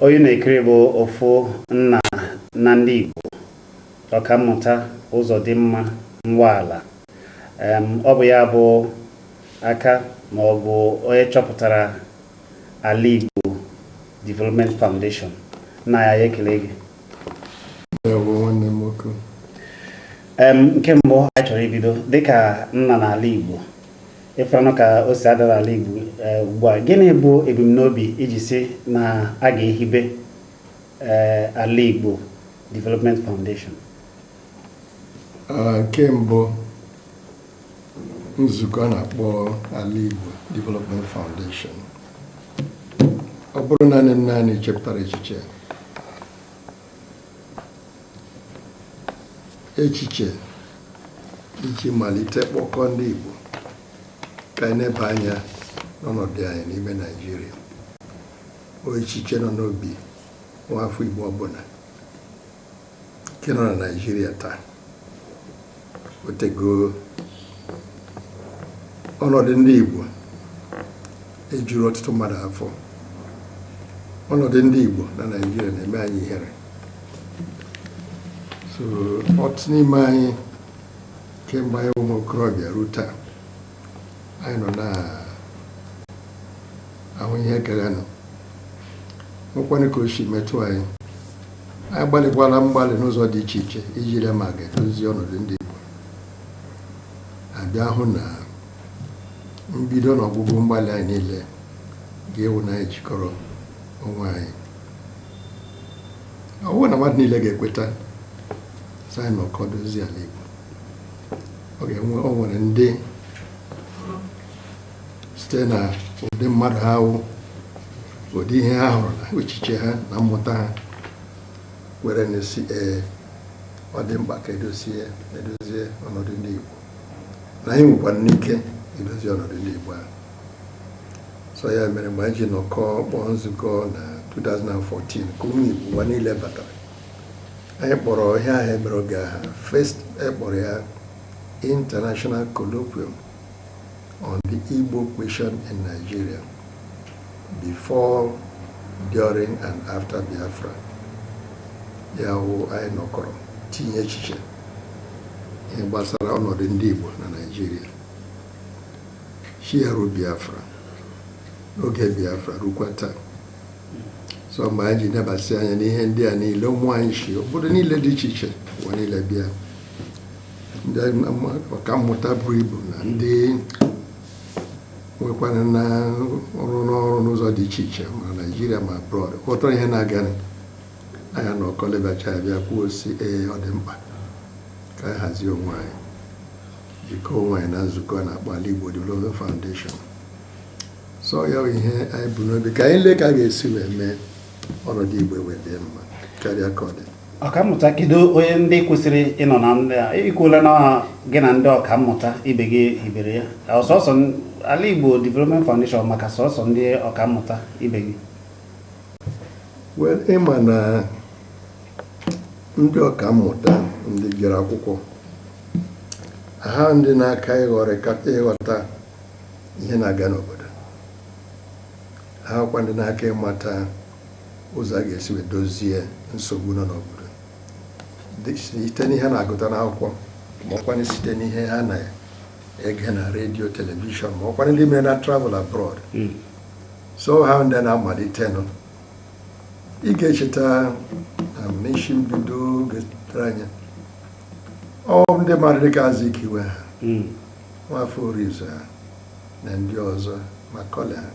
onye ị na-ekiri bụ ofu nna na ndị Igbo ọkammụta Ụzọdịmma Nwala ọ bụ ya bụ aka ma ọ bụ onye chọpụtara ala Igbo Development Foundation nna anyị ekele gị nke mbụ anyị chọrọ ibido dịka nna n'ala Igbo ị fụranụ ka o si ada n'ala Igbo eh, ugbu a gịnị bụ ebumnobi i ji sị na a ga-ehibe eh, ala Igbo Development Foundation ah, nke mbụ nzukọ a na-akpọ ala Igbo Development Foundation ọ bụghị naanị m naanị chepụtara echiche echiche iji malite kpọkọ ndị Igbo ka anyị leba anya n'ọnọdụ anyị n'ime Naịjirịa ọ echiche nọ n'obi nwa afọ Igbo ọbụla nke nọ na naijiria taa o tego ọnọdụ ndị igbo ejughị ọtụtụ mmadụ afọ ọnọdụ ndị igbo na naijiria na-eme anyị ihere so ọtụtụ n'ime anyị kemgbe anyị ụmụ okorobịa ruo taa anyị nọ na-ahụ ihe gaganụ nwekwanụ ka o si metụ anyị anyị gbalịkwala mgbalị n'ụzọ dị iche iche iji lee ma a ga-edozi ọnọdụ ndị Igbo a bịa hụ na mbido na ọgwụgwụ mgbalị anyị niile ga-awụ na anyị jikọrọ onwe anyị ọ bụrụ na mmadụ niile ga-ekweta sị anyị nọkọọ dozie ala Igbo ọ ga-enwe o nwere ndị site na ụdị mmadụ ha wụ ụdị ihe ha hụrụ na echiche ha na mmụta ha were na-asị ee ọ dị mkpa ka e dozie e dozie ọnọdụ ndị Igbo na anyị nwekwaranụ ike idozi ọnọdụ ndị Igbo ahụ so ya mere mgbe anyị ji nọkọọ kpọọ nzukọ na 2014 ka ụmụ Igbo ụwa niile batara anyị kpọrọ ihe ahụ e mere oge aha first a kpọrọ ya international colloquium on the igbo question in nigeria before during and after biafra ya wụ anyị nọkọrọ tinye echiche ihe gbasara ọnọdụ ndị igbo na naijiria chiaru biafra n'oge biafra rukwa taa so mgbe anyị ji nebasị anya n'ihe ndị a niile ụmụ anyị si obodo niile dị iche iche ụwa niile bịa ndị ọka mmụta buru ibu na ndị nwekwara na-arụ ọrụ n'ụzọ dị iche iche ma naijiria ma abroad ghọtara ihe na-aga anyị anọkọọ lebachaa bịa kwuo sị ee ọ dị mkpa ka anyị hazie onwe anyị jikọọ onwe anyị na nzukọ a na-akpọ Ala Igbo Development Foundation so ya bụ ihe anyị bu n'obi ka anyị lee ka a ga-esi wee mee ọnọdụ igbo wee dị mma karịa ka ọ dị ọkammụta kedu onye ndị kwesịrị ịnọ na ndị a i kwuola na gị na ndị ọkammụta ibe gị hibere ya ọ sọsọ ala igbo development foundation maka sọsọ ndị ọkammụta ibe gị ị ma na ndị ọkammụta ndị jere akwụkwọ ha ndị na-aka ịghọta ihe na-aga n'obodo ha kwa ndị na-aka ịmata ụzọ a ga-esi wee dozie nsogbu nọ n'obodo site n'ihe ha na-agụta n'akwụkwọ ma ọkwanụ site n'ihe ha na-ege na redio telivishọn ma ọkwanụ ndị mere na travel abroad hmm. so ha wụ ndị na-amalitenụ ị ga-echeta um, n'isi mbido oge tere anya ọ ndị mmadụ dịka Azikiwe ha hmm. Nwafọ Orizu ha na ndị ọzọ Macaulay ha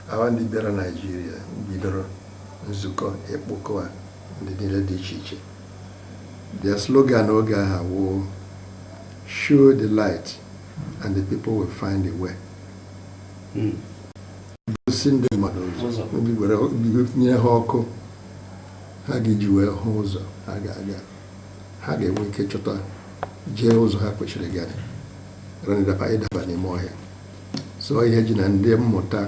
ha wụ ndị bịara Naịjirịa bidoro nzukọ ịkpọkọ a ndị niile dị iche iche their slogan oge ahụ wụ show the light and the people will find the way gosi ndị mmadụ ụzọ nye ha ọkụ ha ga-eji wee hụ ụzọ ha ga-aga ha ga-enwe ike chọta jee ụzọ ha kwesịrị ịga ịdaba ịdaba n'ime ọhịa so ihe ji na ndị mmụta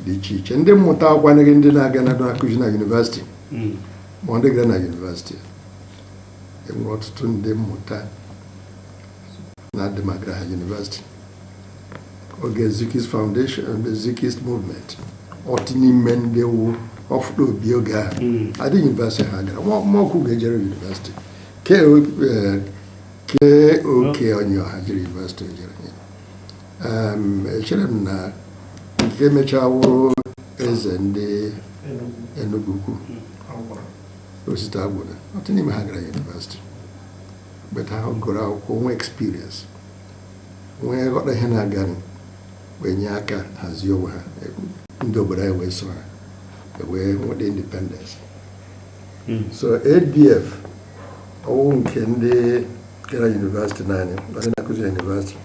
dị iche iche ndị mmụta awụkwanụghị ndị na-aga na-akụzi na yunivasịtị hmm. ma ndị gara na yunivasịtị e nwere ọtụtụ ndị mmụta na-adị ma agaraha University oge Zikist Foundation and the Zikist Movement ọtụtụ n'ime ndị wụ ọfụta obie oge ahụ hmm. adịghị yunivesiti ha gara Mọkwụgọ ejere yunivesiti kee eh, oke onye ọha jere yunivesiti ejere echere m na nke mechaa wụrụ eze ndị Enugwu Ukwu hmm. Osita Agwụna ọtụtụ n'ime ha agaraha yunivesiti but ha gụrụ akwụkwọ nwee experience wee ghọta ihe na-aganụ wee nye aka hazie onwe ha ndị obodo anyị wee so ha wee nweta independence hmm. so ADF ọ wụ nke ndị gara yunivesiti naanị ndị na-akụzi yunivesiti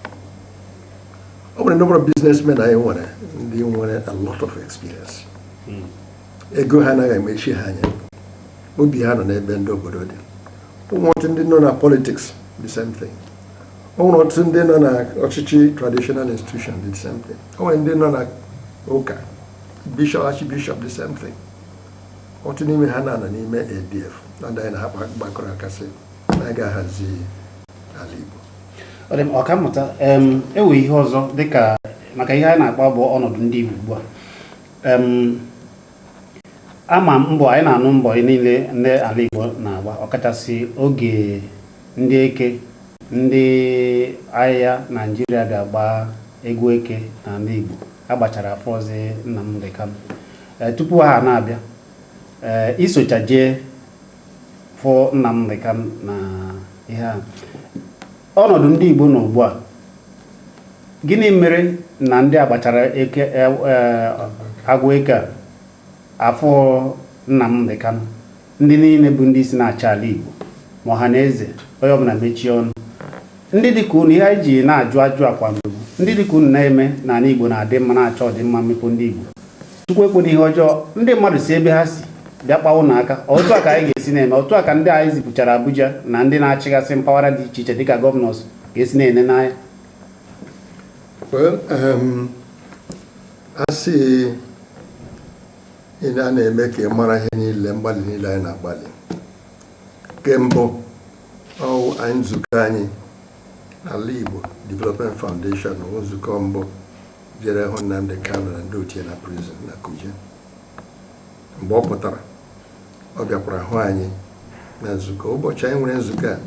o nwere number of businessmen anyị nwere ndị nwere a lot of experience hmm. ego ha anaghị emechi ha anya obi ha nọ n'ebe ndị obodo dị o nwere ọtụtụ ndị nọ na politics the same thing o nwere ọtụtụ ndị nọ na ọchịchị traditional institution the same thing o nwere ndị nọ na ụka bishop archbishop the same thing ọtụtụ n'ime ha na-anọ n'ime ADF na ndị anyị na ha gbakọrọ aka sị na a ga-ahazi ala Igbo ọkammụta e nwee ihe ọzọ dịka maka ihe anyị na-akpa bụ ọnọdụ ndị Igbo ugbu a ama m mbọ anyị na-anụ mbọ niile ndị ala Igbo na-agba ọkachasị oge ndị eke ndị agha Naijiria bịa gbaa egwu eke n'ala Igbo agbachara afụzị Nnamdi Kanu eh, tupu ha na-abịa eh, i socha jee fụ Nnamdi Kanu na ihe a Ọnọdụ ndị Igbo nọ ugbu a, gịnị mere na ndị a gbachara eke e, e, egwu eke a afụ Nnamdi Kanu ndị niile bụ ndị isi na-achị ala Igbo ma ọha na eze onye ọbụla mechie ọnụ ndị dịka unu ihe anyị ji na-ajụ ajụ akwa mgbe ndị dịka unu na-eme na ala Igbo na-adị mma na-achọ ọdịmma mmepe ndị Igbo Chukwu ekwena ihe ọjọọ ndị mmadụ si ebe ha si bịa kpawa unu aka otu a ka anyị ga-esi na-ene otu a ka ndị anyị zipụchara Abuja na ndị na-achịgasị mpaghara dị iche iche dịka gọvanọs ga-esi na-ene n'anya um, asị ị na-eme ka ị mara ihe niile mgbalị niile anyị na-agbalị nke mbụ ọ wụ anyị nzukọ anyị Alaigbo Development Foundation wụ nzukọ mbụ jere hụ Nnamdi Kanu na ndị otu ya na prison na Kuje mgbe ọ pụtara ọ bịakwara hụ anyị na nzukọ ụbọchị anyị nwere nzukọ a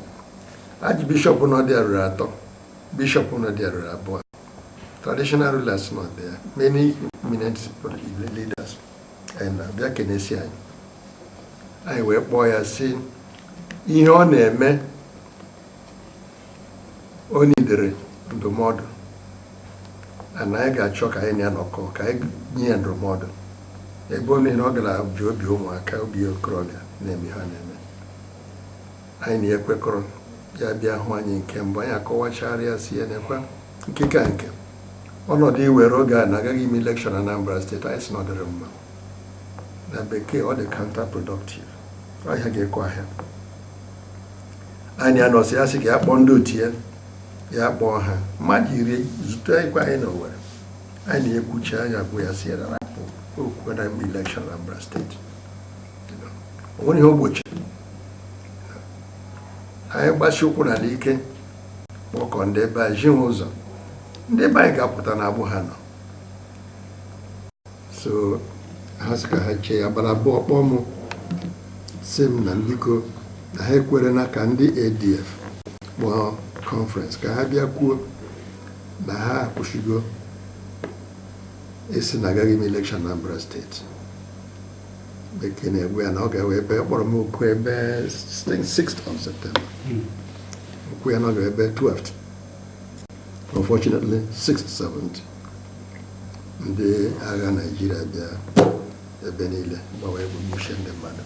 archbishop nọ dị ya ruru atọ bishop nọ dị ya ruru abụọ traditional rulers nọ dị ya many eminent leaders and ọ bịa kenesịa anyị anyị wee kpọọ ya sị ihe ọ na-eme o nidere ndụmọdụ na anyị ga-achọ ka anyị na ya nọkọ ka anyị nye ya ndụmọdụ ebe onye na ọ gara ji obi ụmụaka obi okorobịa na-eme ihe ọ na-eme anyị na ya kwekọrọ ya bịa hụ anyị nke mbụ anyị akọwachara ya sị ya nekwa nke ka nke ọnọdụ i were oge a na a gaghị eme election n'Anambra State anyị sị na ọ dịghị mma na bekee ọ dị counterproductive ahịa ga-ekwe ahịa anyị anọsịa sị ka ya kpọọ ndị otu ya ya kpọọ ha mmadụ iri zutekwa anyị na Owerri anyị na-ekwucha anyị agwa ya sị rapụ okwu na mgbe elekshọn na Anambra steeti o nwere ihe ogbochi anyị gbasi ụkwụ n'ala ike kpọkọ ndị be anyị ziwe ụzọ ndị be anyị ga-apụta n'agbụ ha nọ so ha sị ka ha chee ya abalị abụọ ọ kpọọ m sị m na biko na ha ekwere na ka ndị ADF kpọọ kọnferensị ka ha bịa kwuo na ha akwụsịgo ịsị na agaghị eme elekshọn Anambra steeti bekee na-egbu ya na ọ ga-ewe ebe kpọrọ m oku ebe 6th of September hmm. o kwuo ya na ọ ga-ewe ebe 12th unfortunately 6th 7th ndị agha naijiria bịa ebe niile gbawa egbe gbusie ndị mmadụ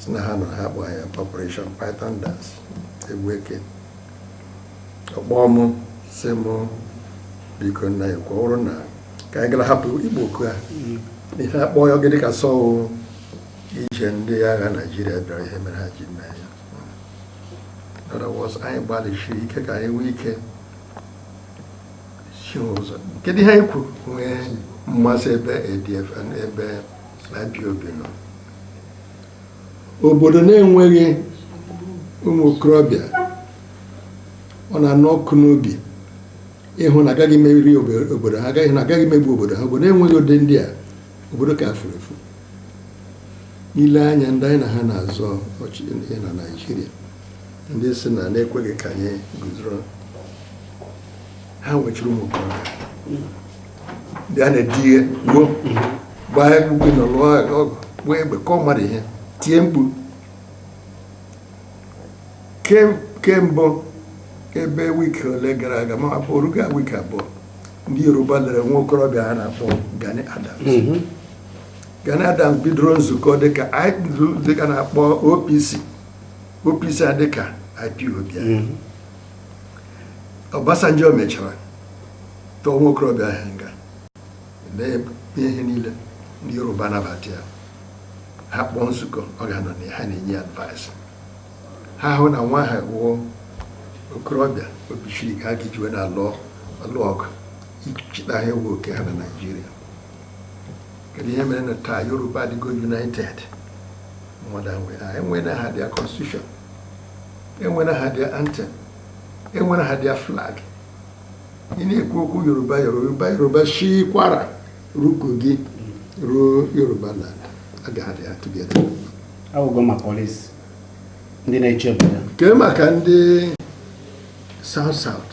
si na ha nọ ha kpọọ ya operation python dance egwu eke ọ kpọọ mụ sị mụ biko na ọ ka uru na ka anyị gara hapụ ịkpọ oku a n'ihi a kpọọ ya ọ ga-adị ka sọ ije ndị agha naijiria bịara ihe mere ha ji mee ya other words anyị gbalịsiri ike ka anyị nwee ike kedu ihe anyị kwuru nwee mmasị ebe ADF ebe IPOB nọ obodo na-enweghị ụmụ okorobịa ọ na-anụ ọkụ n'obi ịhụ na agaghị emeri obodo ha agaghị na agaghị emegbu obodo ha obodo enweghị ụdị ndị a obodo ka furu efu i lee anya ndị anyị na ha na-azọ ọchịchị na Naịjirịa ndị si na na-ekweghị ka anyị guzoro ha nwechiri ụmụ okorobịa ndị a na-edi ihe gbuo gbaa egwu gị na lụọ ọgụ gbuo egbe kụọ mmadụ ihe tie mkpu kemgbe ebe wiki ole gara aga ma ọ bụ o rugo wiki abụọ ndị yoruba lere nwa okorobịa ha na-akpọ Gani Adams mhm. Gani Adams bidoro nzukọ dịka nke a na-akpọ OPC OPC a dịka IPOB mhm. Obasanjo mechara tụọ nwa okorobịa ahụ nga na ihe niile ndị Yoruba nabata ya ha kpọọ nzukọ ọ ga-anọ na ha na-enye ya advice ha hụ na nwa a wụ okorobịa obi siri ike a ga-ejiwe na-alụ ọgụ ichita ha iwe oke ha na Naịjirịa kedu ihe mere na taa Yoruba adịgo united mmadụ enwena ha their constitution enwere ha their anthem enwere ha their flag ị na-ekwu okwu yoruba yoruba yoruba shi Kwara ruo Kogi ruo Yoruba land ga-adị ha together awụgo ma police ndị na-eche obodo kee maka ndị south south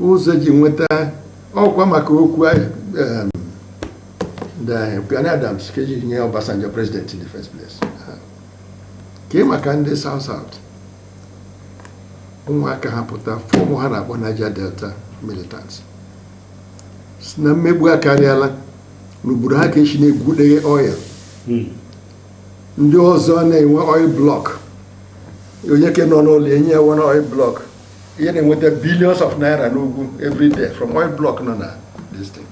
ụzọ ji nweta ọkwa maka okwu Gani Adams ka eji nye Obasanjo president in the first place kee maka ndị South South ụmụaka ha pụta fọmụ ihe ha na-akpọ Niger Delta militants sị na mmegbu akarịala n'obodo ha ka eshi na-egwudeghe oil hmm. ndị ọzọ na-enwe oil block onye ke nọ n'ụlọ enye ya one oil block ihe na-enweta billions of naira n'ugwu every day from oil block nọ na this thing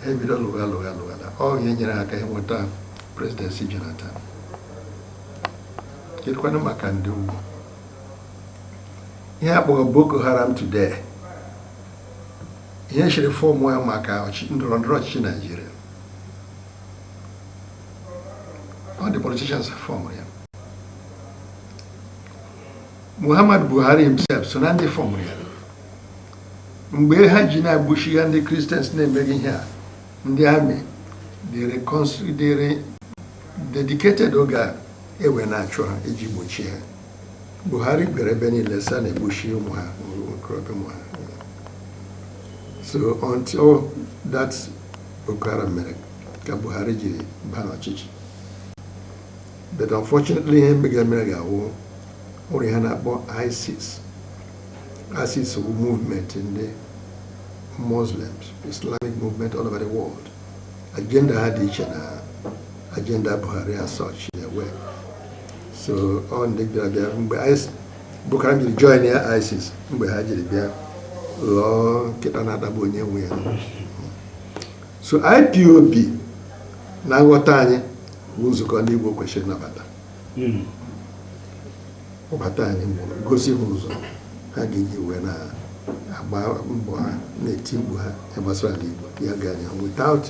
ebido lụgha lụgha lụgha na ọ ihe nyere aka ịnweta presidency Jonathan kedụkwanụ maka ndị ugwu ihe akpọrọ Boko Haram today ihe e jiri fọmụ ya maka ndọrọ ndọrọ ọchịchị Naijiria ọ ndị politicians fọmụ ya Muhammad Buhari himself so na ndị fọmụ ya mgbe ha ji na-egbushigha ndị Christians na-emeghị ihe a ndị army dịrị dedicated oge a ewe na-achụ ha iji gbochie ha Buhari bịara ebe niile sị a na-egbushi ụmụ ha okorobịa ụmụ ha so until that Boko Haram mere ka Buhari jiri baa n'ọchịchị but unfortunately ihe mega mere ga-awụrụ ihe a na-akpọ ISIS ISIS bụ movement ndị Muslims Islamic movement all over the world agenda ha dị iche na agenda Buhari as such in a way so ọ ndị bịara bịa mgbe Boko Haram jiri join ya ISIS mgbe ha jiri bịa ghọọ nkịta na-atagbu onye nwe ya so IPOB na nghọta anyị bụ nzukọ ndị Igbo kwesịrị ịnabata hmm. kpọbata anyị mụrụ gosi ha ụzọ ha ga-eji wee na-agba mbọ ha na-eti mkpu ha gbasara ala Igbo ya ga anya without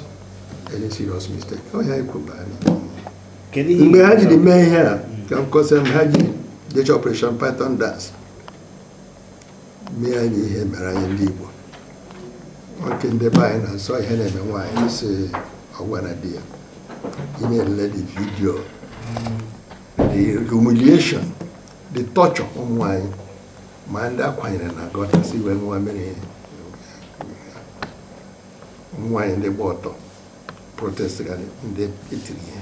any serious mistake ọ ya ekwuba anyị mgbe ha jiri mee ihe a ka m kọsịa m ha ji decha Operation Python Dance mee anyị ihe mere anyị ndị Igbo ọ ke ndị be anyị na-asị ọ ihe na-eme nwaanyị sị ọ gwana di ya ị na-elele the video the humiliation the torture ụmụ nwanyị ma ndị akwanyere na gọta sị ha ṅụwa mmiri ụmụ nwanyị ndị gba ọtọ protest ga ndị etiri ihe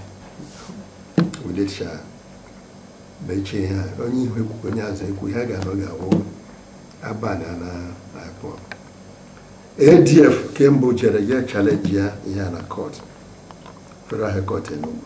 udecha mechie ha onye ihu ekwu onye azụ ekwu ha ga-anọ ga-awụ abana na IPOB ADF kemgbe jere je challenge ya ihe a na court federal high court Enugu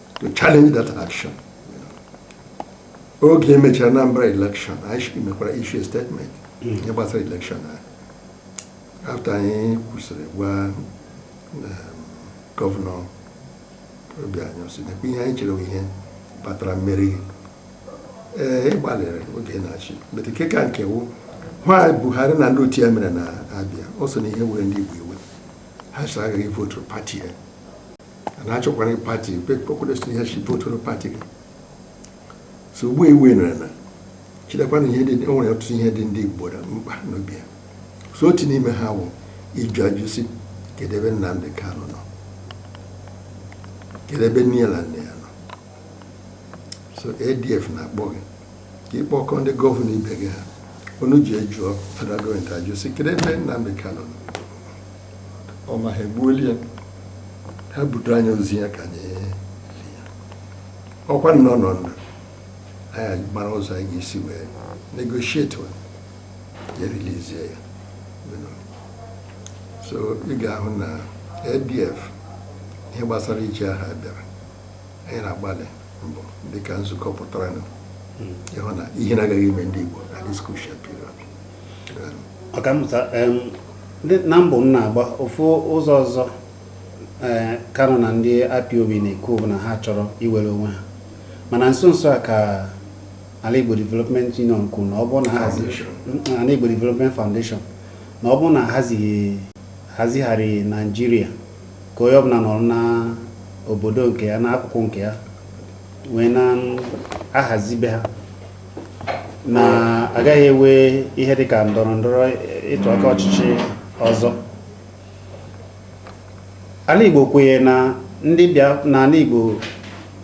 to challenge that action. oge e mechara Anambra election anyị mekwara issue statement hmm. ihe gbasara election ahụ after anyị kwusiri gwa um, gọvanọ Obiano sị nekwa ihe anyị chere ihe kpatara mmeri ee eh, ịgbalịrị oge ị na-achị but nke ka nke wụ na ihe Buhari na ndị otu ya mere na Abia o so na ihe were ndị Igbo iwe ha sị agaghị votu pati ya na achọkwara pati kpekpọkpọdesi ihe e ji votuoro pati gị so ugbu a i winnere na chetakwa na ihe dị o nwere ọtụtụ ihe dị ndị Igbo na mkpa n'obi ya so otu n'ime ha wụ ịjụ ajụ sị kedu ebe Nnamdi Kanu nọ kedu ebe nne ya na nna ya nọ so ADF na-akpọ gị ka ị kpọkọọ ndị gọvanọ ibe gị ka unu je jụọ federal gọọmenti ajụ sị kedu ebe Nnamdi Kanu nọ ọ ma ha egbuola ya ha butere anyị ozu ya ka anyị lia ọ kwanụ ọ nọ ndụ anyị amara ụzọ anyị ga-esi wee negotiate ya relizie ya so ị ga-ahụ na ADF ihe gbasara issue ahụ bịara anyị na-agbalị mbọ dịka nzukọ pụtara hmm. ịhụ na ihe na-agaghị ime ndị Igbo at this crucial ọkammụta na mbụ m na-agba ofu ụzọ ọzọ eh, Kanu na ndị IPOB na-ekwu bụ na ha chọrọ iwere onwe ha mana nso nso a ka Alaigbo Development Union kwuru na ọ bụ na ha Alaigbo Development Foundation na ọ bụ na ahazigharị Naijiria ka onye ọbụla nọrọ na obodo nke ya n'akụkụ nke ya wee na-ahazi be ha na agaghị enwe ihe dị ka ndọrọ ndọrọ ịtụ aka ọchịchị ọzọ Alaigbo kwenyere na ndị na ala Igbo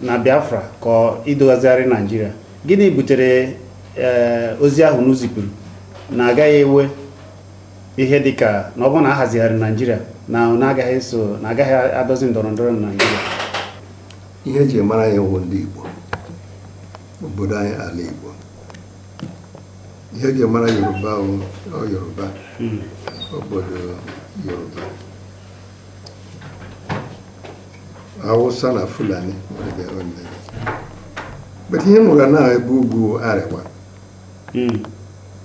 na Biafra ka ọ idozigharị Naijiria gịnị butere eh, ozi ahụ unu zipụrụ na agaghị enwe ihe dị ka na ọ bụrụ na ahazigharị Naijiria na na agaghị so na agaghị adọzi ndọrọ ndọrọ na Naijiria ihe e ji mara ihe wụ ndị Igbo obodo anyị ala Igbo ihe eji mara Yoruba wụ Yoruba hmm. obodo Yoruba Hausa na Fulani but ihe nwere na ebe ugwu Arewa hmm.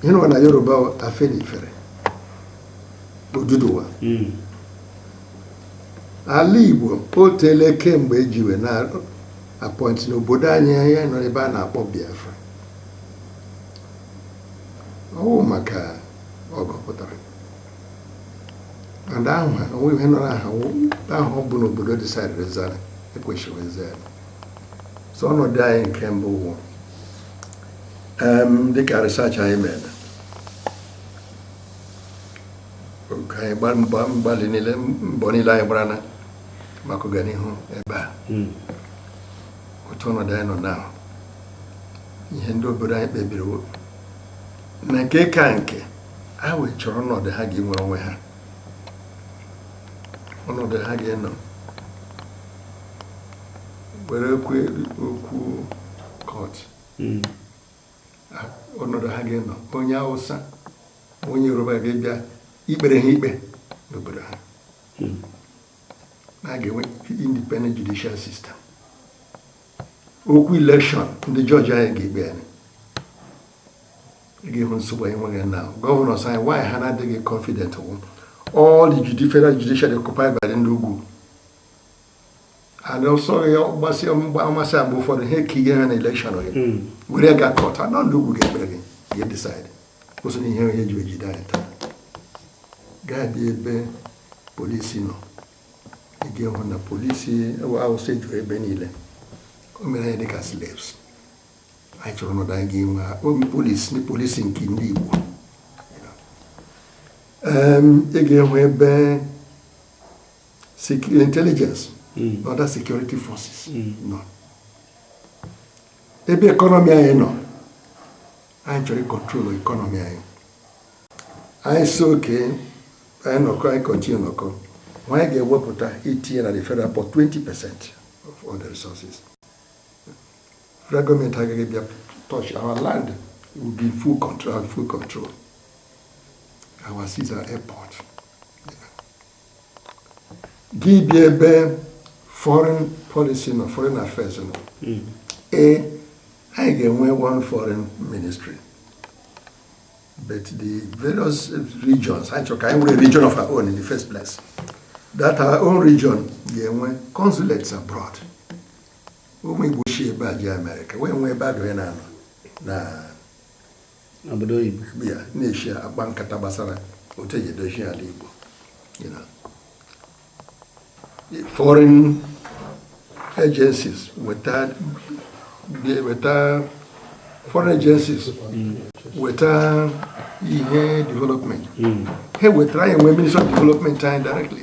ihe nwere na Yoruba Afenifere Oduduwa hmm. ala Igbo o teele kemgbe ejiwe na appoint n'obodo anyị anyị nọ ebe a na-akpọ Biafra ọ wụ maka ọgụ pụtara aha ahụ ha onwe ihe nọrọ aha ahụ ọ bụ n'obodo decidiri zara ekwesịrị zara so ọnọdụ anyị nke mbụ wụ dịka research anyị mere ka anyị mgbalị niile mbọ niile anyị gbara na maka ọganihu ebe a hmm. otu ọnọdụ anyị nọ na ihe ndị obodo anyị kpebiri na nke ka nke ha wee chọrọ ọnọdụ ha ga-enwere onwe ha ọnọdụ ha ga-enọ were okwu court hmm. ọnọdụ ha ga-enọ onye Awụsa onye Yoruba ga-ebịa ikpere ha ikpe n'obodo ha na a ga-enwe independent judicial system okwu election ndị judge anyị ga-ekpe anyị ị ga-ehụ nsogbu anyị nwega na governors anyị why ha na-adịghị confident wụ all the federal judiciary occupied by ndị ugwu and also mgbasị mgbamasị agba ụfọdụ ihe ka ihe ha na election gị hmm. were ga court na ndị ugwu ga-ekpere gị ga decide kwụsị na ihe onye ji ejide anyị taa gaa bịa ebe polisi nọ ị ga-ehụ na polisi Awụsa ejuru ebe niile o mere anyị dịka slaves anyị chọrọ ọnọdụ anyị ga-enwe obi polisi ndị polisi nke ndị Igbo ị ga-ehụ ebe intelligence mm. na other security forces mm. nọ ebe economy anyị nọ anyị chọrọ ịcontrol economy anyị anyị sị okay anyị nọkọ anyị continue nọkọ ma anyị ga-ewepụta itinye na the federal pot 20 percent of all the resources federal government agaghị bịa touch our land will be full control full control our seas our airport gị bịa ebe foreign policy na foreign affairs nọ hmm. ee anyị ga-enwe one foreign ministry but the various regions anyị chọrọ ka anyị nwere region of our own in the first place that our own region ga-enwe consulates abroad ụmụ Igbo si ebe a jee Amerịka wee nwee ebe a ga na-anọ na n'obodo oyibo ya na-eshi akpa nkata gbasara otu e ji edozi ala Igbo foreign agencies weta foreign agencies weta ihe development hmm. ha wetara anyị nwee ministry of development anyị directly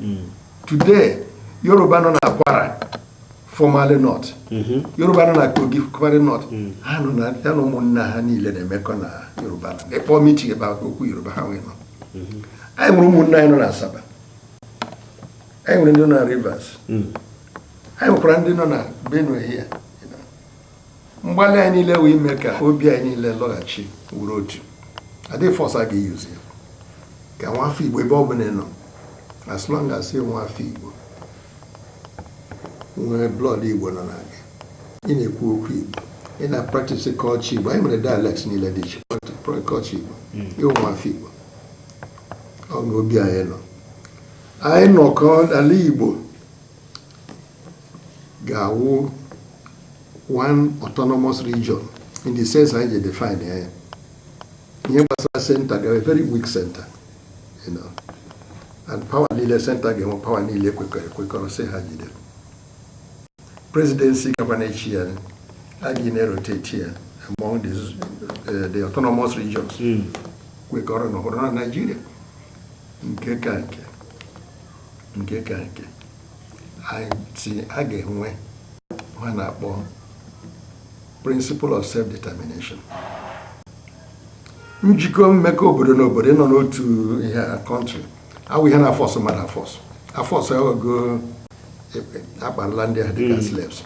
hmm. today yoruba nọ na Kwara formerly North mm-hmm. yoruba nọ na Kogi formerly North hmm. ha nọ na ya na ụmụnna ha niile na-emekọ na yoruba na ịkpọ meeting ebe okwu yoruba ha nwee nọ mm-hmm. anyị nwere ụmụnna anyị nọ na asaba anyị nwere ndị nọ na rivers hmm. anyị nwekwara ndị nọ na Benue here mgbalị anyị niile wụ ime ka obi anyị niile lọghachi wuru otu adịghị force a ga-eyuzi ya ka nwa afọ igbo ebe ọ bụla ị nọ as long as ị nwa afọ igbo nwee blood igbo nọ na gị ị na-ekwu okwu igbo ị na-apractice culture igbo anyị nwere dialects niile dị iche culture igbo ị wụ nwa afọ igbo ọ bụ obi anyị nọ anyị nọkọ ala igbo ga-awụ one autonomous region in the sense anyị ji define ya ya ihe gbasara center ga very weak center you know and power niile center ga-enwe power niile kwekọrọ ekwekọrọ sị ha jide presidency gakwa na-achị ya a ga na-erotate ya among the, uh, the autonomous regions kwekọrọ ịnọrọ na Nigeria nke ka nke nke ka nke sị a ga-enwe ihe a na-akpọ principle of self-determination njikọ mmekọ obodo na obodo ịnọ n'otu ihe country awụ ihe a na-afọsụ mmadụ afọsụ afọsụ aghọgo akparala ndị ha dịka hmm. slaves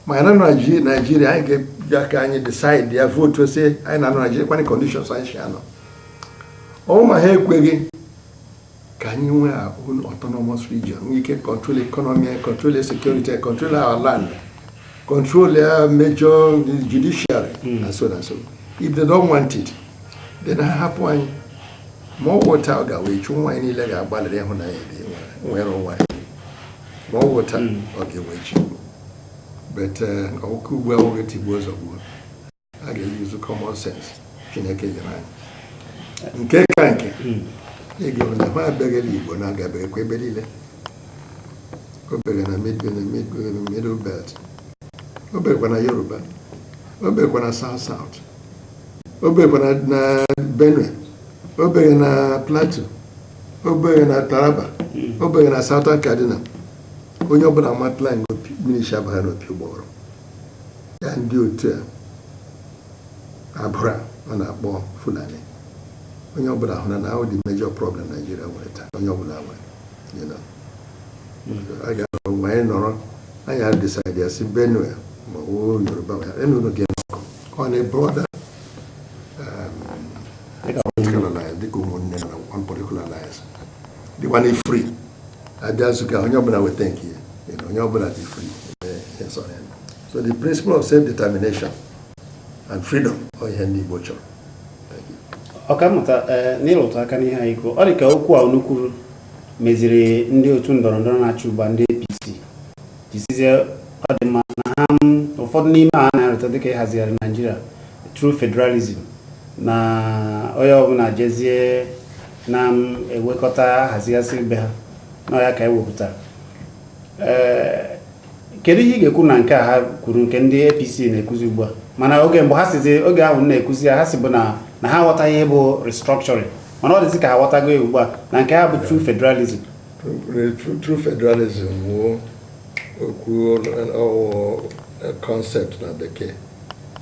ma ịnọ na naijiria anyị ga-eji aka anyị decide ya votuo sị anyị na-anọ naijiria kwanye conditions anyị si anọ ọ wụ ma ha ekweghị ka anyị nwee our own autonomous region nwee ike control economy control security control our land control our major judiciary hmm. and so and so if they don't want it then ha hapụ anyị ma ọ wụ taa ọ ga-awụ echi nwa anyị niile ga-agbalịrị ịhụ na anyị nwere onwe anyị ma ọ wụ taa hmm. ọ ga-awụ echi but ọ wụghị uh, ugbu a ọ wụghị tigbuo zọgbuo a ga-eyuzu common sense Chineke nyere anyị nke ka nke hmm. ị ga-eme na ha abịaghịla Igbo na-agabeghịkwa ebe niile o bere na middle belt o berekwa na Yoruba o berekwa na South South o berekwa na Benue o bere na Plateau o bere na Taraba hmm. o bere na Southern Kaduna onye ọbụla matala nga mmiri si abagha n'opi ụgbọghọrọ na ndị otu a agbụrụ a na-akpọ Fulani onye ọbụla hụrụ na ha bụ the major problem Naijiria nwere taa onye ọbụla nwere a ga-anọrọ mgbe anyị nọrọ anyị a-decide ya si Benue ma ọ bụ Yoruba ma anyị na unu dịkọ on a broader dịka ụmụnne na one political alliance dịkwa na free abịa nzukọ ahụ onye ọbụla weta nke ya you know, onye ọbụla dị free eme ihe sọrọ ya so the principle of self determination and freedom ọ ihe ndị Igbo chọrọ Thank you. ọkammụta ee n'ịrụtụ aka n'ihe anyị kwuo ọ dị ka okwu a unu kwuru meziri ndị otu ndọrọ ndọrọ na-achị ugbu a ndị apc ji sịzie ọ dị mma na ha m, ụfọdụ n'ime ha na-arụta dịka ịhazigharị naijiria true federalism na onye ọbụla jezie na-ewekọta hazigasị be ha na ya ka e wepụtara kedu ihe ị ga-ekwu na nke a ha kwuru nke ndị APC na-ekwuzi ugbu a mana oge mgbe ha sizi oge ahụ na-ekwuzi ya ha sịbu na ha aghọtaghị ihe bụ restructuring mana ọ dịzi ka ha aghọtago ya ugbu a na nke ha bụ true federalism true federalism bụ okwu concept na bekee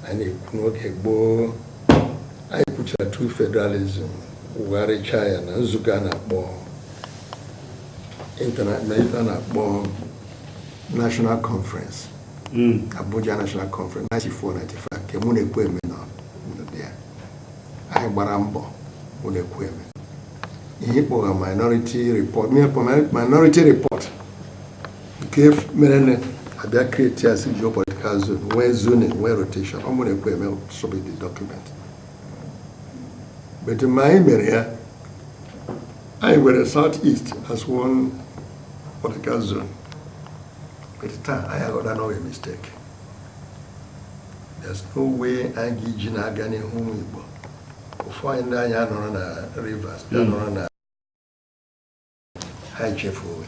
anyị na-ekwu n'oge gboo anyị kwuchara true federalism kwugharịchaa ya na nzukọ a na-akpọ a na-akpọ National Conference hmm. Abuja National Conference 94-95 nke mụ na Ekwueme nọ ya anyị gbara mbọ mụ na Ekwueme ihe a kpọrọ minority report minority report nke mere na a bịa create six geopolitical zone nwee zoning nwee rotation ọ mụ na Ekwueme submit the document but mgbe anyị mere ya anyị were south east as one political zone but taa anyị aghọta na ọ bụ mistake there's no way anyị ga-eji na-aga n'ihu ụmụ Igbo ụfọdụ anyị ndị anyị anọrọ na Rivers ndị hmm. anọrọ na ha echefu onwe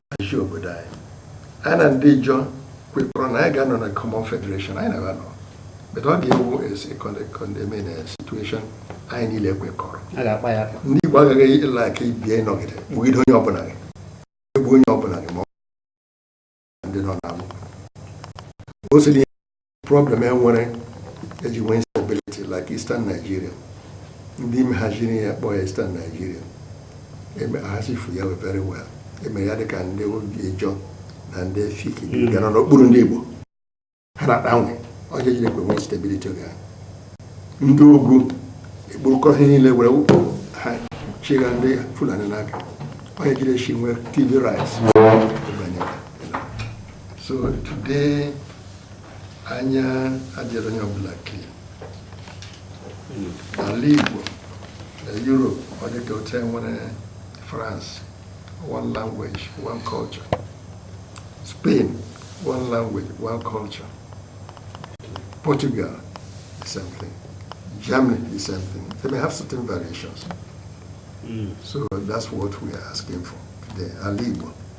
achị obodo anyị anyị na ndị Ijọ kwekọrọ na anyị ga-anọ na common federation anyị na ha ga-anọ but ọ ga-awụ a situation anyị niile kwekọrọ ndị Igbo agaghị ịla aka ibie ịnọgide kpụgide onye ọbụla gị egbu onye ọbụla gị ma ọ ndị nọ n'alụ o siri problem enwere eji nwee instability like Eastern Nigeria ndị mehaziri ya kpọọ ya Eastern Nigeria emehazifu ya very well emere ya dịka ndị Ijọ na ndị Efik hmm. bịara n'okpuru ndị Igbo ha na-agbanwe ọjọ jiri ekwe nwee stability oge ha ndị ugwu ekpurukọ ihe niile were ha chịga ndị Fulani n'aka onye jiri echi nwee Tiv riots so today anya adịrị onye ọbụla clear n'ala Igbo na Europe ọ dị ka otu enwere France one language one culture Spain one language one culture Portugal the same thing Germany the same thing they may have certain variations mm. so that's what we are asking for the ala Igbo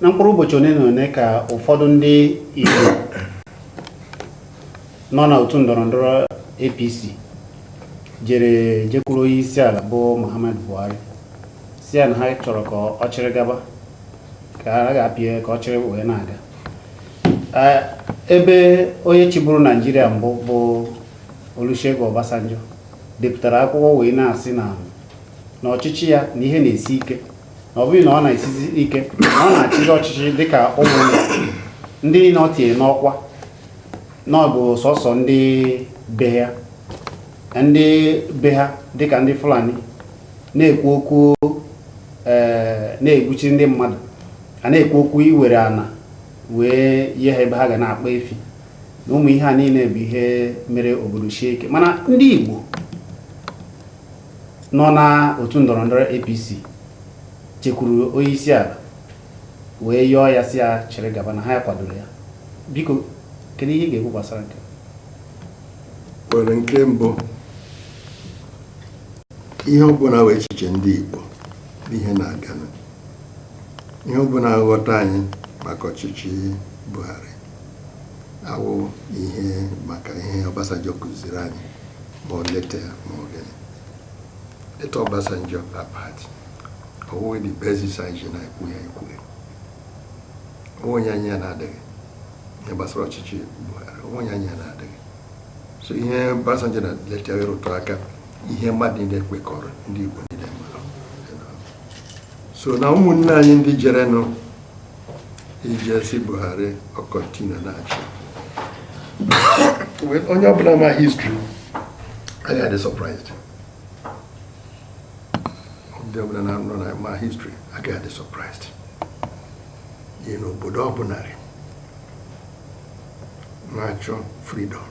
na mkpụrụ ụbọchị one na one ka ụfọdụ ndị Igbo nọ na otu ndọrọ ndọrọ APC jere jekwuru onye isi ala bụ Muhammadu Buhari sị ya na ha chọrọ ka ọ chịrị gaba ka a ga-apịa ka ọ chịrị wee na-aga ebe onye chịburu Naịjirịa mbụ bụ Olusegun Obasanjo depụtara akwụkwọ wee na-asị na n'ọchịchị ya na ihe na-esi ike ọ bụghị na ọ na-esizi ike na ọ na-achịzi ọchịchị dịka ụmụ ndị niile o tinye n'ọkwa na ọ bụ sọsọ ndị be ya ndị be ha dịka ndị Fulani na-ekwu okwu eh, na-egbuchi ndị mmadụ a na-ekwu okwu iwere ana wee nye ha ebe ha ga na-akpa efi na ụmụ ihe a niile bụ ihe mere obodo sie ike mana ndị Igbo nọ na otu ndọrọ ndọrọ APC jekwuru onye isi ala wee yọọ ya sị ya chịrị gaba na ha ya kwadoro ya biko kedu ihe ị ga-ekwu gbasara nke a well nke mbụ ihe ọbụla wụ echiche ndị Igbo n'ihe na-aga ihe ọbụla nghọta anyị maka ọchịchị Buhari awụghị maka ihe Obasanjo kụziri anyị ma ọ leta ya ma ọ gịnị leta Obasanjo apart ọ wụghị the basis anyị ji na-ekwu ya ekwughị onye anyị ya na-adịghị ihe gbasara ọchịchị Buhari onye anyị ya na-adịghị so ihe Obasanjo na leta ya rụtụ aka ihe mmadụ niile kwekọrọ ndị Igbo niile mara so na ụmụnne anyị ndị jerenụ ije si Buhari ọ continue na-achị onye ọbụla ma history agaghị adị surprised onye ọbụla nnọọ ma history agaghị adị surprised ihi n'obodo ọbụla na-achọ freedom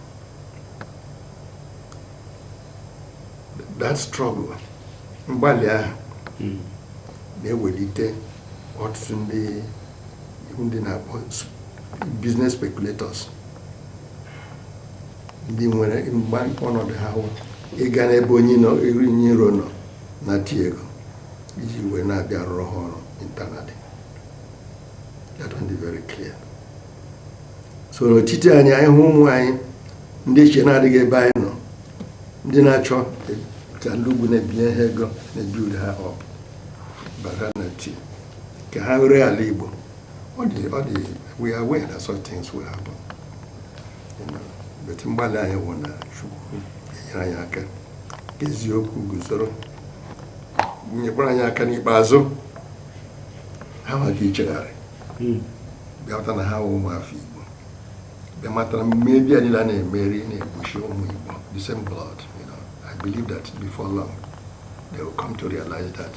that struggle mgbalị ahụ hmm. na-ewelite ọtụtụ ndị ndị na-akpọ business speculators ndị nwere mgba ọnọdụ ha hụ ịga n'ebe onye iro nọ nata ego iji wee na-abịa rụrụ ha ọrụ internally that one is very clear so n'etiti anyị anyị hụ ụmụ anyị ndị iche na-adịghị ebe anyị nọ ndị na-achọ ka ndị ugwu na-ebinye ha ego na-ebuild ha up bata na ti ka ha were ala Igbo ọ dị ọ dị we are aware that such things will happen but mgbalị anyị wụ na Chukwu enyere anyị aka ka eziokwu guzoro nyekwara anyị aka n'ikpeazụ ha maka ichegharị hmm. bịa mata na ha wụ ụmụafọ Igbo bịa mata na mmadụ niile a na-emerụ na-egbusi ụmụ Igbo the same blood you know I believe that before long they will come to realize that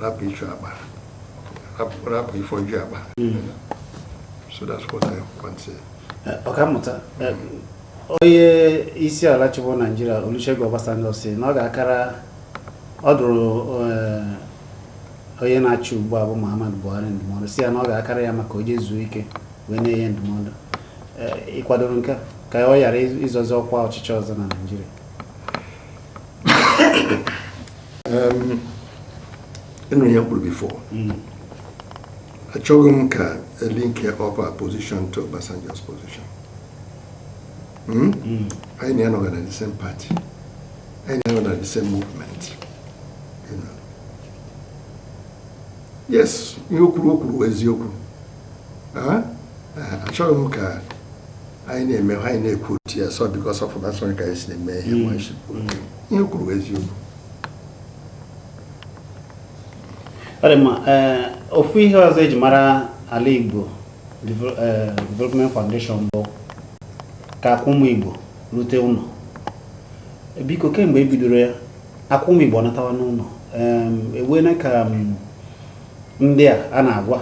rapụ ịchụ akpa rapụ ifoju akpa hmm. so that's what I want to say. Eh, ọkammụta eh, onye isi ala chịbụ Naịjirịa Olusegun Obasanjo si na ọ ga-akara ọ dụrụ eh, onye na-achị ugbu a bụ Muhammadu Buhari ndụmọdụ si ya na ọ ga-akara ya mma ka o je zuo ike wee na-enye ndụmọdụ eh, ị kwadoro nke ka ọ ghara ịzọzi ọkwa ọchịchị ọzọ na Naịjirịa ị nụ ihe m kwuru before hmm. achọghị m ka e linke up our position to Obasanjo's position Hmm? Hmm. anyị na ya anọghị na the same party anyị na ya anọghị na the same movement yes ihe o kwuru o kwuru wụ eziokwu ah? Ah, achọghị m ka anyị na-eme anyị na-ekwu otu ya so because of Obasanjo ka anyị si na-eme ihe hmm. ihe o kwuru wụ eziokwu ọ dị mma eh, ofu ihe ọzọ eji mara ala Igbo Eh, development foundation bụ ka akụ ụmụ igbo rute ụnọ eh, biko kemgbe e bidoro ya akụ ụmụ igbo natawa n'ụnọ e nwena ka ndị a a na-agwa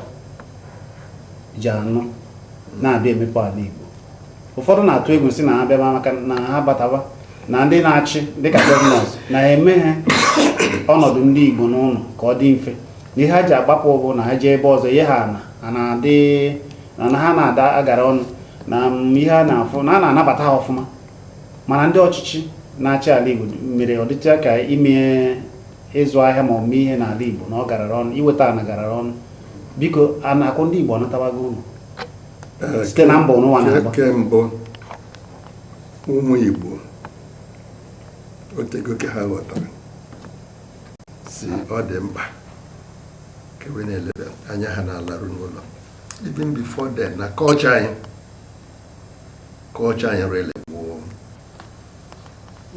ji anụ na-abịa emepe ala igbo ụfọdụ na-atụ egwu sị na ha bịa maka na ha bataba na ndị na-achị dịka gọvanọs na-emeghị ọnọdụ ndị igbo n'ụnọ ka ọ dị mfe ihe ha ji agbapụ bụ na ha jee ebe ọzọ ihe ha na ha na-adị na na ha na-ada agara ọnụ na mm, ihe a na-afụ na a na-anabata ha ọfụma mana ndị ọchịchị na-achị ala Igbo mere ọ dịcha ka ime ịzụ ahịa ma omume ihe n'ala Igbo na ọ garara ọnụ iweta ana garara ọnụ biko a na akụ ndị Igbo anatawago ụlọ Eh, Site na mbọ unu wa na-agba. nke mbụ ụmụ Igbo otego ka ha ghọtara sị ọ dị mkpa ka we na-eleba anya ha na-alaru n'ụlọ even before then na kọlcha anyị kọlcha anyị rele gboo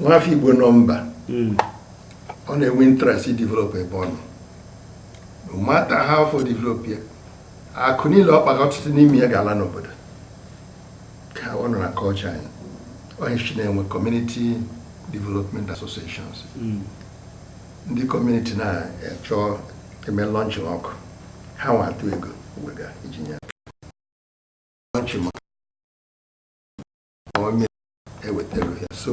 nwafọ igbo nọ mba hmm. ọ na-enwe interest ị develop ebe ọ nọ no matter how far ọ develop ya akụ niile ọ kpara ọtụtụ n'ime ya ga-ala n'obodo ka ọ nọ na kọlcha anyị ọ ihe e ji na-enwe kọmuniti development associations hmm. ndị kọmuniti na-achọ ime lọnchịn ọkụ ha nwa atụ ego we ga-eji nye lọnchịn onye ewetara ya so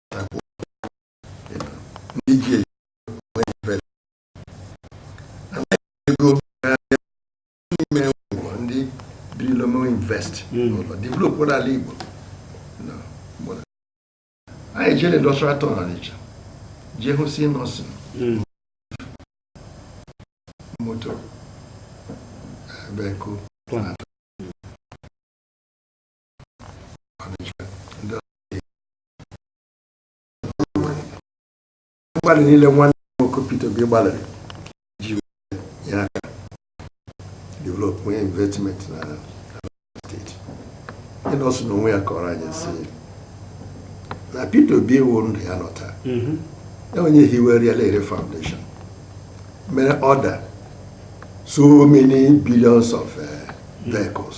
obodo ala Igbo anyị jere industrial town Ọnịcha jee hụ si Innoson moto vehicle mgbalị niile nwanne nwoke Peter Obi gbalịrị ji nye aka develop nwee investment na steeti Innoson n'onwe ya kọrọ anyị sị na Peter Obi wụ ndụ ya nọ taa mhm. ya wụ onye hiwere ya lere foundation mere order so many billions of eh, vehicles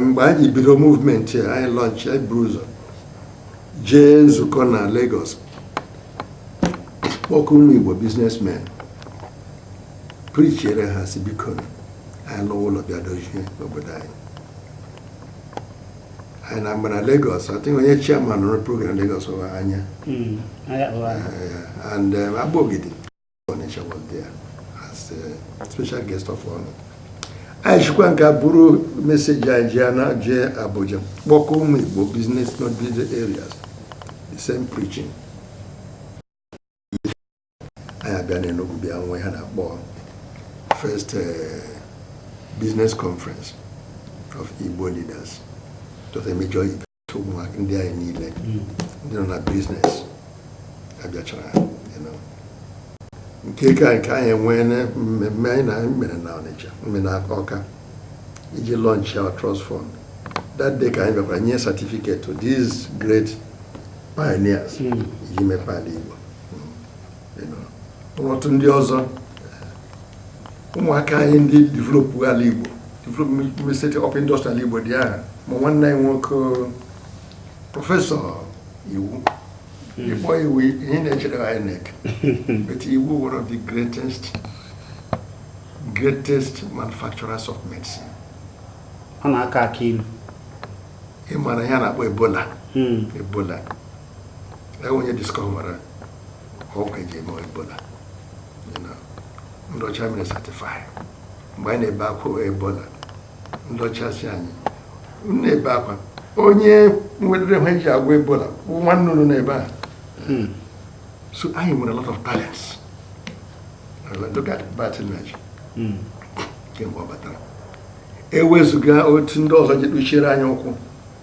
mgbe anyị bido movement anyị launch anyị buru ụzọ jee nzukọ na Lagos kpọkọ ụmụ Igbo businessmen preachere ha sị biko anyị lụwa ụlọ bịa dozie obodo anyị anyị na mgbe na Lagos I think onye chairman rụrụ program Lagos bụ Anya hmm, and um, Agbogidi Onitsha was there as a special guest of honor. anyị sikwa nka buru message anyị ji na jee Abuja kpọkọ ụmụ Igbo business not business areas the same preaching anyị abịa n'Enugu bịa nwee ihe a na-akpọ first uh, business conference of Igbo leaders it was a major ụmụaka ndị anyị niile hmm. ndị nọ na business abịachara nke ka nke anyị enwee mmemme anyị na anyị mere na Ọnịcha mme na Ọka iji launch our trust fund that day ka anyị bịakwara nye certificate to these great pioneers hmm. iji mepee ala Igbo otu ndị ọzọ ụmụaka anyị ndị developụ ala Igbo develop set up industry ala Igbo dị aha ma nwanne anyị nwoke prọfesọ Iwu hmm. ị kpọọ Iwu ihe na-echere INEC but Iwu one of the greatest manufacturers of medicine ọ na-akọ akị ilu ị maara ihe a na-akpọ ebola hmm. ebola onye discovera ọgwụ eji eme ebola ndị ọcha mere certify mgbe anyị na-ebe akwa ebola ndị ọcha sị anyị na-ebe akwa onye nwetere ihe eji agwọ ebola bụ nwanne unu n'ebe a hmm. so anyị nwere a lot of talents look at Barth Nnaji hmm. kemgbe ọ batara ewezuga otu ndị ọzọ ji kpuchiere anyị ọkụ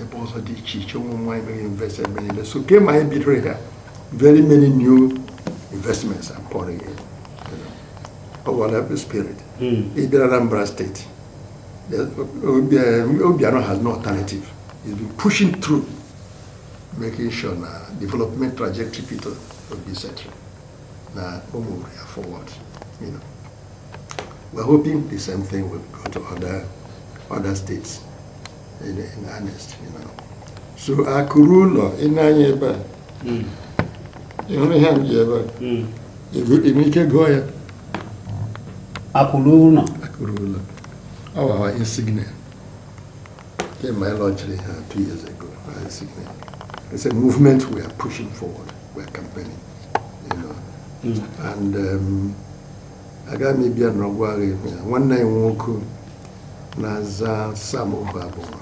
ebe ọzọ dị iche iche ụmụnna anyị mere invest ebe niile so kemgbe anyị bidoro ya very many new investments are pouring in ọ gwara ebe spirit hmm. ị bịara Anambra State Obiano has no alternative he's been pushing through making sure na development trajectory Peter Obi setịrị na-amove forward you know. We're hoping the same thing will go to other other states in, in earnest, you know. So akụ ruo ụlọ ị na-anya ebe a hmm. ị hụrụ ihe m ji ebe a hmm. i nwere ike gụọ ya akụ ruo ụlọ akụ ruo ụlọ ọ wụ our insignia kemgbe anyị launchiri ya two years ago insignia it's a movement we are pushing forward we are campaigning you know mm. and um, aga m ịbịa na ọgwụ agha ihu ya nwanne ya nwoke na-aza sam ohuabunwa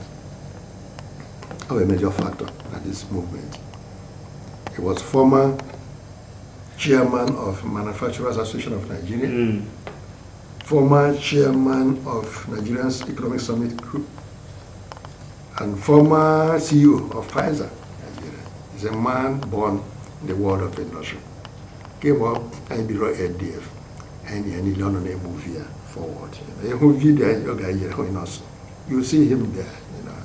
ọ bụ major factor na this movement he was former chairman of manufacturers association of nigeria mm. former chairman of nigeria's economic summit group and former ceo of pfizer nigeria he's a man born in the world of industry kemgbe anyị biro ADF anyị ya niile ọ nọ na-emove ya forward ị hụ video anyị oge anyị yere onye nọsụ you see him there you know,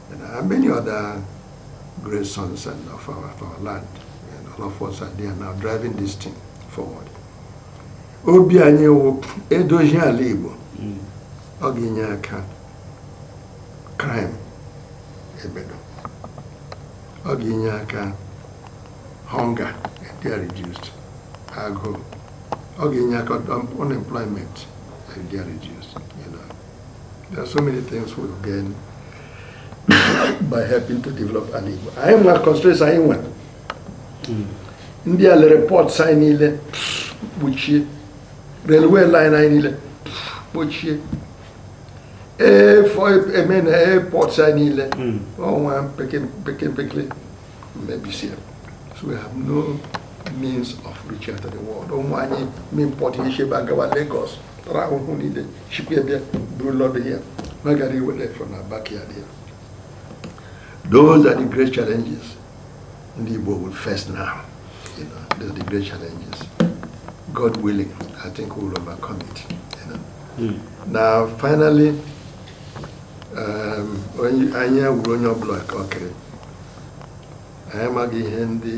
you know, and many other great sons and of our, of our land and all of us are there now driving this thing forward obi anyị wụ e dozie ala Igbo hmm. ọ ga-enye aka crime ebedo ọ ga-enye aka hunger adịa reduced agụụ ọ ga-enye aka unemployment adịa reduced you know there are so many things we gain by helping to develop ala Igbo anyị ma constraints anyị nwe hmm. ndị a lere port anyị niile kpochie railway line anyị niile kpochie ee fọ eme na airport anyị niile ọnwa mpekempekele mebisi ya so we have no means of reaching out to the world ụmụ anyị import ihe shi ebe a gawa Lagos tara ahụhụ niile shikwa ebe buru load ya na ọ gara iwere from na backyard ya those are the great challenges ndị Igbo will face now you know, those are the great challenges God willing I think we will overcome it you know. mm. now finally um, anyị wuru onye ọbụla ka ọ kere anyị amaghị ihe ndị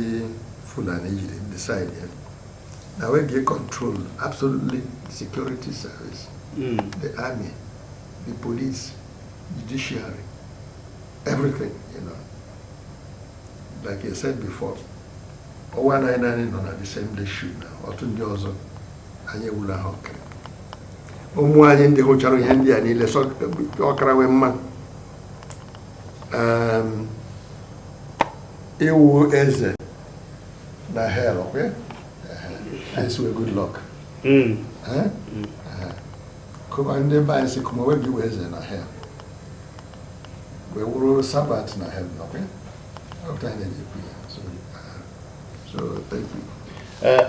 Fulani jiri decide na we ga-econtrol absolutely security service hmm. the army the police judiciary everything you know like I said before ọwa anaghị naanị nọ na the same day shoot na otu ndị ọzọ anyị ewula ha ọkara ụmụ anyị ndị hụchara ihe ndị a niile ọ kara we mma ịwụ eze na hell good luck hmm. kama ndị be anyị sị kama wee biwe eze na hell wee wụrụ servant na hell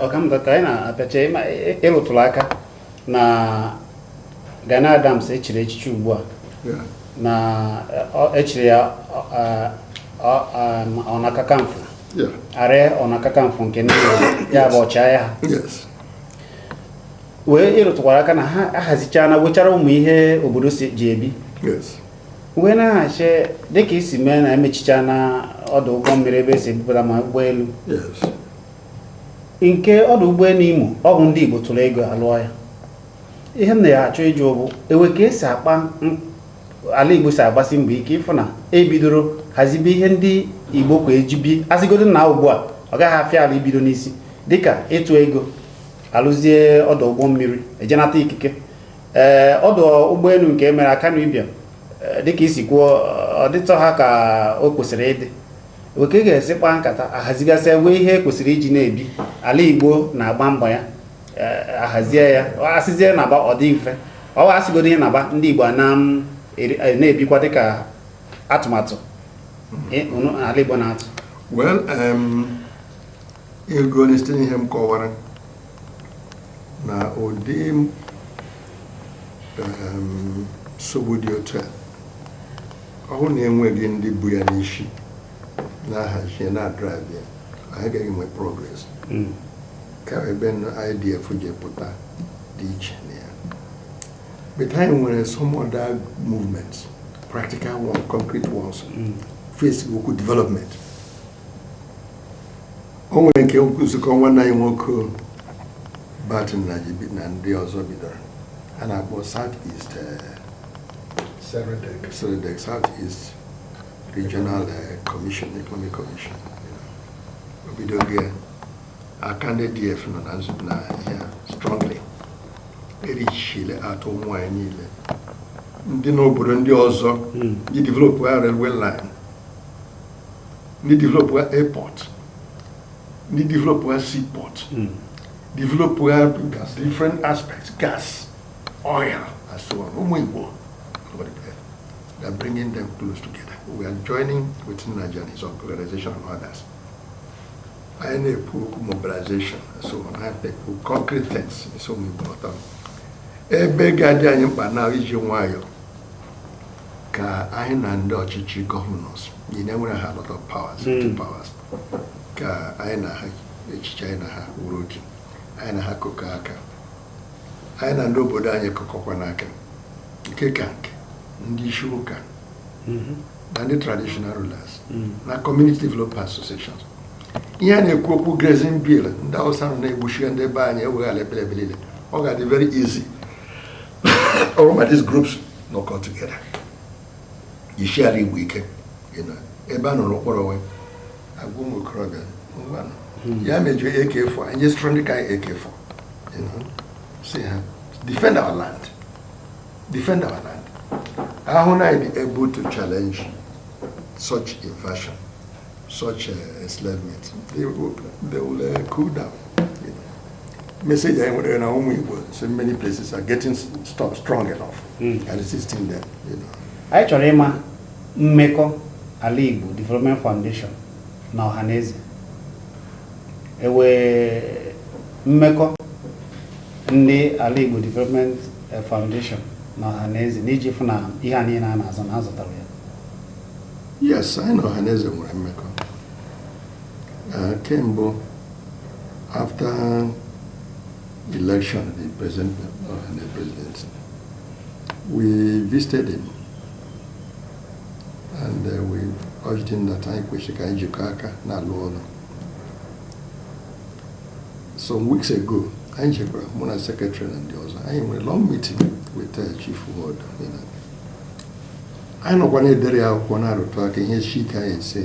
ọkammụta ka anyị na-apịachi ị rụtụrụ aka na Gani Adams echiri echichi ugbu a na echiri ya Ona Kakanfo Aare Ona Kakanfo nke ndị ya bụ ọchịagha wee ị rụtụkwara aka na ha ahazichana wechara ụmụ ihe obodo ji ebi wee na-ahazi dịka i si mee na emechichana ọdụ ụgbọ mmiri ebe esi ebupụta ma ụgbọelu nke ọdụ ụgbọelu Imo ọ bụ ndị Igbo tụrụ ego alụọ ya ihe m na-achọ ịjụ bụ ewe ka esi akpa ala Igbo si agbasi mbọ ike ịfụ na ebidoro hazibe ihe ndị Igbo kwa eji ebi asịgodo na ugbu a ọ gaghị afịa ala ibido n'isi dịka ịtụ ego alụzie ọdụ ụgbọ mmiri e je nata ikike ee eh, ọdụ ụgbọelu nke e mere Akanu Ibiam eh, dịka i si kwuo ọ dịtọha ka o kwesịrị ịdị ewe ka ị ga-esi kpaa nkata ahazigasịa wee ihe kwesịrị iji na-ebi ala igbo na-agba mbọ ya e, ahazie ya asịzie na-aba ọ dị mfe ọ asịgodo ihe na-aba ndị igbo e, na-ebikwa dịka atụmatụ ala igbo na-atụ ị ga-ahụli site n'ihe m kọwara na ụdị nsogbu dị otu a ọ bụrụ na enweghị ndị bu ya n'isi na-ahazi ya na-adraịv ya anyị gaghị enwe progress hmm. ka ebe ADF ji pụta dị iche na ya but anyị nwere some other movements practical one concrete ones hmm. face okwu development o nwere nke nnukwu nzukọ nwanne anyị nwoke Barth Nnaji na ndị ọzọ bidoro a na-akpọ south east eh, SEREDEC. SEREDEC, south east regional eh, commission economic commission you know. o bidogo ya ka ndị ADF nọ na nzube na ya strongly reaching out to ụmụ anyị niile ndị n'obodo ndị ọzọ ji develop railway line ndị developụ airport ndị developụ seaport hmm. developụ different aspects gas oil and so on ụmụ Igbo they are bringing them close together we are joining with Nnaji and his organization and others anyị na-ekwu okwu mobilization so on anyị na-ekwu concrete things so Igbo ọtọ ebe ga-adị anyị mkpa na iji nwayọọ ka anyị na ndị ọchịchị governors ndị nwere a lot of powers hmm. two powers ka anyị na ha echiche anyị na ha wuru otu anyị na ha kụkọ aka anyị na ndị obodo anyị kụkọkwa n'aka nke ka nke ndị isi ụka hmm. na ndị traditional rulers hmm. na community development associations ihe a na-ekwu okwu grazing bill ndị awụsa na-egbusi ndị be anyị eweghara ebe niile ọ ga-adị very easy ọ wụrụ ma these groups nọkọọ together you share igbo ike ebe a nụrụ ụkpọrọ we agwa ụmụ okorobịa ngwanụ hmm. ya mejuo ak4 anyị sụrụ ndị ka anyị ak4 sị ha defend our land defend our land a hụ na anyị dị able to challenge such invasion such uh, enslavement they will, they will uh, cool down you know. message anyị nwere na ụmụ Igbo so many places are getting st strong enough mm. and resisting them you know. anyị chọrọ ịma mmekọ Alaigbo Development Foundation na ọhaneze e nwere mmekọ ndị Alaigbo Development eh, Foundation na ọhaneze n'iji fụ na ihe a niile a na-azọ na a zọtara ya yes anyị na ọhaneze nwere mmekọ eh, kemgbe after election the president and the president we visited him and uh, we urged him that anyị kwesịrị ka anyị jikọọ aka na-alụ ọrụ some weeks ago anyị jekwara mụ na sekretrị na ndị ọzọ anyị nwere long meeting with uh, Chief Nwodo anyị nọkwa na-edere ya akwụkwọ na-arụtụ aka ihe si ike anyị sị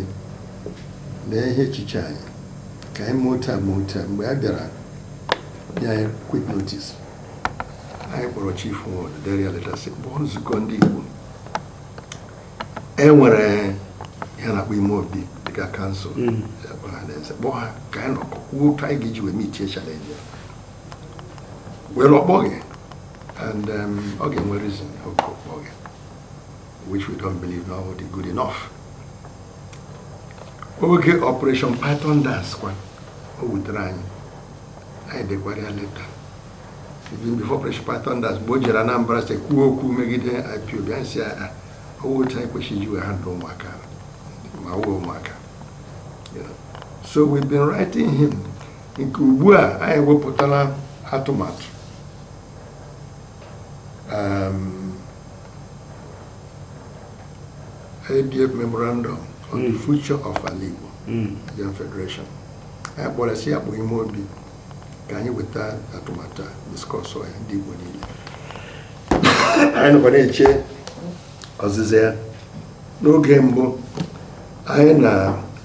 lee ihe echiche anyị ka anyị mee otu a mee otu a mgbe a bịara nye anyị quit notice anyị kpọrọ Chief Nwodo dere ya leta sị kpọọ nzukọ ndị Igbo e nwere ihe a na-akpọ ime obi dịka council Mm. kpọọ ọhaneze kpọọ ha ka anyị nọkọ kwuo otu anyị ga-eji wee meetie challenge a well ọ kpọghị and um, ọ ga-enwe reason o ji akpọghị which we don't believe na ọ dị good enough oge operation python dance kwa o wutere anyị anyị dekwara ya leta even before operation python dance mgbe o jere Anambra steeti kwuo okwu megide IPOB anyị sị ya ọ wụghị otu anyị kwesịrị iji wee handle ụmụaka ma ha wụ ụmụaka so we've been writing him nke ugbu a anyị wepụtala atụmatụ um, ADF memorandum on the future of Ala Igbo Nigerian Federation anyị kpọrọ sị ya kpọọ ime obi ka anyị weta atụmatụ a discussụọ ya ndị Igbo niile anyị nọkwa na-eche ọzịza ya n'oge mbụ anyị na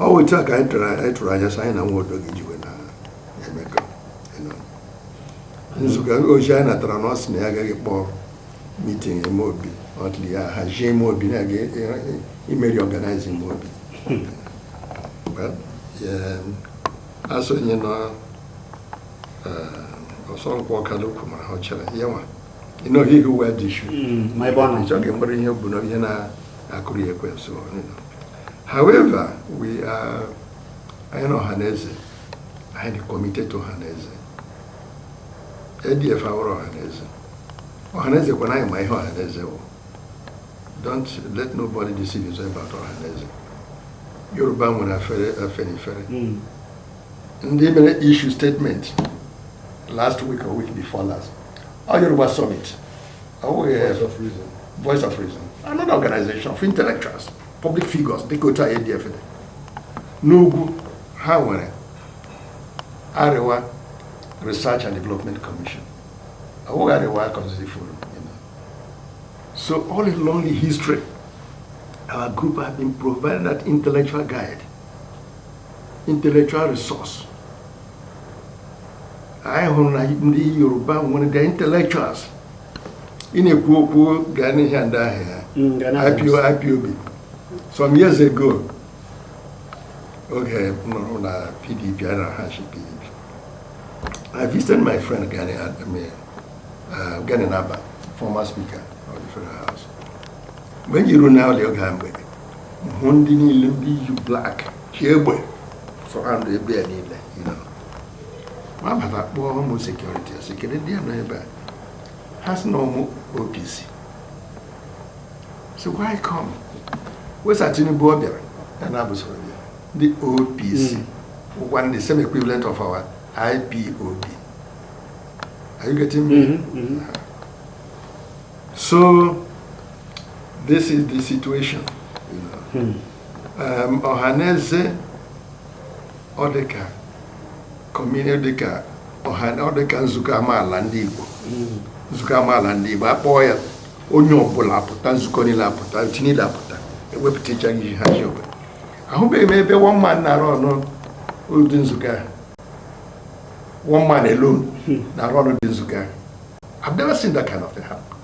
ọ bụ otu a ka anyị tụrụ anyị tụrụ anya sị anyị na Nwodo ga-eji wee na-emekọ you know. nzukọ ozi anyị natara na ọ sị na ya agaghị akpọ meeting ime obi until ya hazie ime obi na a ga-eme reorganize ime obi Well, yeah, asonye na eh, ọsọ nkwụ ọkada ukwu mara ha ọ chere ya nwa you know he who wear the shoe Mm, ma ebe ọ nọ. ịchọghị mkpụrụ ihe o bu na ihe na akụrụ ya ekwensu however we are anyị na ọhaneze anyị dị committed to ọhaneze ADF awụghị ọhaneze ọhaneze kwanụ anyị ma ihe ọhaneze wụ don't let nobody deceive you about ọhaneze Yoruba nwere afere Afenifere hmm. ndị mere issue statement last week or week before last ọ Yoruba summit Voice of Reason. Voice of Reason. Another organization of intellectuals, public figures dịka otu anyị dị n'ugwu ha nwere Arewa Research and Development Commission. Awụghị Arewa Constituency Forum. So all along the history, our group has been provided that intellectual guide, intellectual resource anyị hụrụ na ndị Yoruba nwere the intellectuals ị na-ekwu okwu Gani ndị ahụ ya IPO IPOB some years ago oge m nọrọ na PDP a na-achị PDP I visited my friend Gani Adams uh, Gani Na'Abba former speaker of the federal house mgbe m ji ruo n'ụlọ oge mgbede hụ ndị niile ndị yi black chị egbe surround ebe ya niile m abata kpọọ ụmụ security a sị kedu ndị a nọ ebe a ha sị na ọ ụmụ OPC so why come wee sị Tinubu ọ bịara ya na ha bụ soro bịa ndị OPC wụkwa hmm. the same equivalent of our IPOB are you getting me? Mm -hmm. Mm -hmm. So this is the situation. You know. hmm. Ọhaneze ọ dịka community dịka ọ dịka nzukọ amaala ndị Igbo hmm. nzukọ amaala ndị Igbo a kpọọ ya onye ọbụla apụta nzukọ niile apụta otu niile apụta ewepụtacha ihe ha ji obodo ahụbeghị m ebe one man na-arun ụdị nzukọ a one man alone hmm. na-arun ụdị nzukọ a I've never seen that kind of thing happen.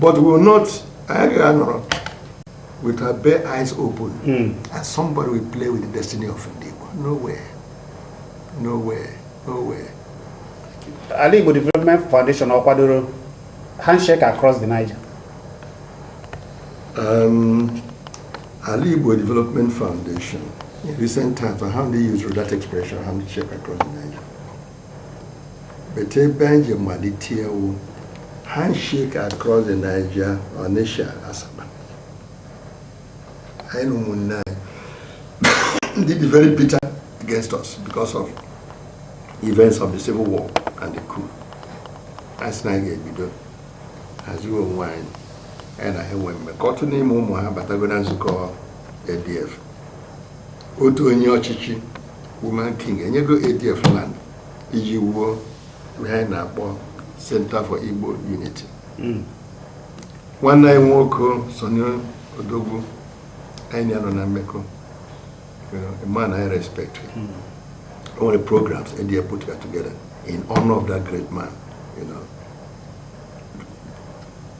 but we will not anyị gaghị anọrọ with our bare eyes open mm. and somebody will play with the destiny of ndị Igbo nowhere nowhere nowhere Alaigbo Development Foundation ọ kwadoro handshake across the Niger um, Alaigbo Development Foundation in recent times I haven't used that expression handshake across the Niger but ebe anyị ji malite iwu handshake across the Niger Onitsha Asaba anyị na ụmụnne anyị ndị dị very bitter against us because of events of the civil war and the coup anyị sị na anyị ga-ebido haziwe onwe anyị anyị na ha enwe mmekọ otu n'ime ụmụ ha batago na nzukọ ADF otu onye ọchịchị Woman King enyego ADF land iji wuo ihe anyị na-akpọ Center for Igbo Unity hmm. nwanne anyị nwoke Sonny Odogwu anyị na ya nọ na mmekọ man I respect hmm. o nwere programs ADF put together in honor of that great man you know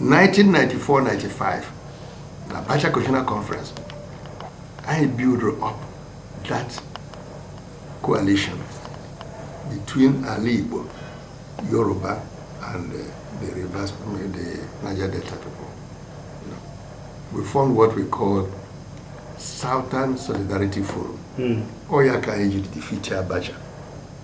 1994-95 na Bacha Constitutional Conference anyị build up that coalition between Ala Igbo, Yoruba and uh, the reverse, the Niger Delta people. You know, we formed what we call Southern Solidarity Forum. Mm. Oyaka Egypt defeated Abacha.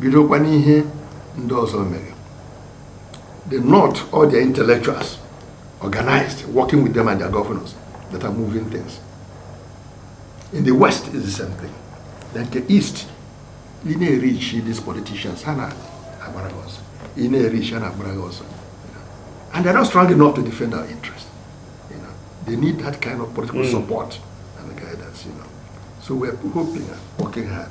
bidokwa n'ihe ndị ọzọ mere the north all their intellectuals organized working with them and their governors that are moving things in the west is the same thing na nke east ị na-ereach these politicians ha na-agbara gị ọsọ ị na-ereach ha na-agbara gị ọsọ and they're not strong enough to defend our interest you know they need that kind of political mm. support and guidance you know so we're hoping and working hard